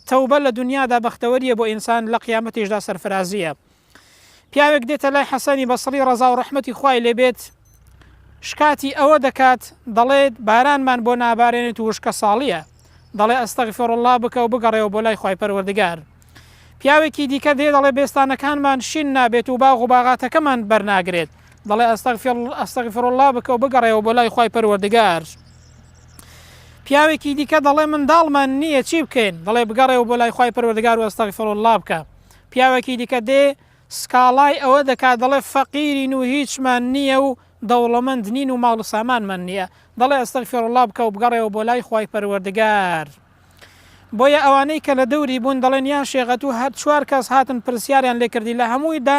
تەوبە لە دونیادا بەختەوەریە بۆ ئینسان لە قیامەتیشدا سەرفرازیە پیاوێک دێتە لای حەسەنی بەسڕی ڕەزا و ڕەحمەتی خوای لێبێت شکاتی ئەوە دەکات دەڵێت بارانمان بۆ نابارێنێت و وشکە ساڵیە دەڵێ ئەستەغفر الله بکە و بگەڕێەوە بۆ لای خی پەروەردگار پیاوێکی دیکە دێ دەڵێ بێستانەکانمان شین نابێت و باغ و باغاتەکەمان بەرناگرێت دەڵێ ئەستەغفر الله بکە و بگەڕێەوە بۆ لای خی پەروەردگار پیاوێکی دیکە دەڵێ منداڵمان نییە چی بکەین دەڵێ بگەڕێەوە بۆ لای خی پەروەردگار و ئەستەغفر الله بکە پیاوێکی دیکە دێ سکاڵای ئەوە دەکات دەڵێ فەقیرین و هیچمان نییە و دەوڵەمەند نین و ماڵ و سامانمان نییە دەڵێ ئەستەغفر الله بکە و بگەڕێەوە بۆ لای خی پەروەردگار. بۆیە ئەوانەی کە لە دەوری بوون دەڵێن یان شێغەت و هەر چوار کەس هاتن پرسیاریان لێکردی لە هەموویدا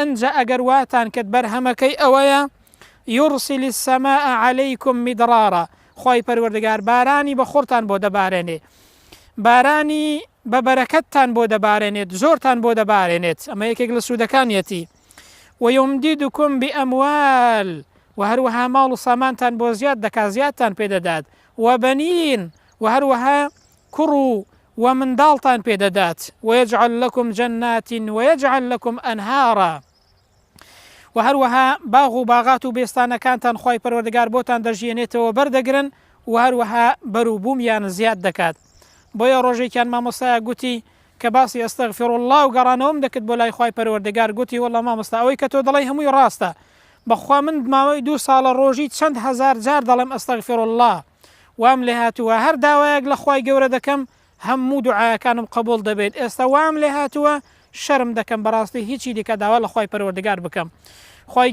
ئنجا ئەگەر واتان کرد بەرهەمەکەی ئەوەیە، یورسل السماء علیکم مدرارا، خوای پەروەردگار بارانی بە خڕتان بۆ دەبارێنێ، بارانی بە بەرەکەتتان بۆ دەبارێنێت، زۆرتان بۆ دەبارێنێت، ئەمە یەکێک لە سوودەکانیەتی، ویمددکم باموال، وە هەروەها ماڵ و سامانتان بۆ زیاد دەکات، زیادتان پێ دەدات، وبنین، وە هەروەها کوڕ و وە منداڵتان پێ دەدات، ویجعل لکم جنات ویجعل لکم انهارا، وە هەروەها باغ و باغات و بێستانەکانتان خوای پەروەردگار بۆتان دەژیەنێتەوە بەر دەگرن و هەروەها بەرو بومیان زیاد دەکات بۆیە ڕۆژێکیان مامۆستایەک گوتی کە باسی استغفراللە و گەڕانەوەم دەکرد بۆ لای خوای پەروەردگار گوتی واللە مامۆستا ئەوەی کە تۆ دەڵێی هەمووی ڕاستە بەخوا من ماوەی دوو ساڵە ڕۆژی چەند هەزار جار دەڵێم استغفراللە وام لێ هاتووە هەر داوایەک لە خوای گەورە دەکەم هەموو دوعاەکانم قبول دەبێت ئێستا وام لێ هاتووە شەرم دەکەم بەڕاستی هیچی دیکە داوا لە خوای پەروەردگار بکەم خوای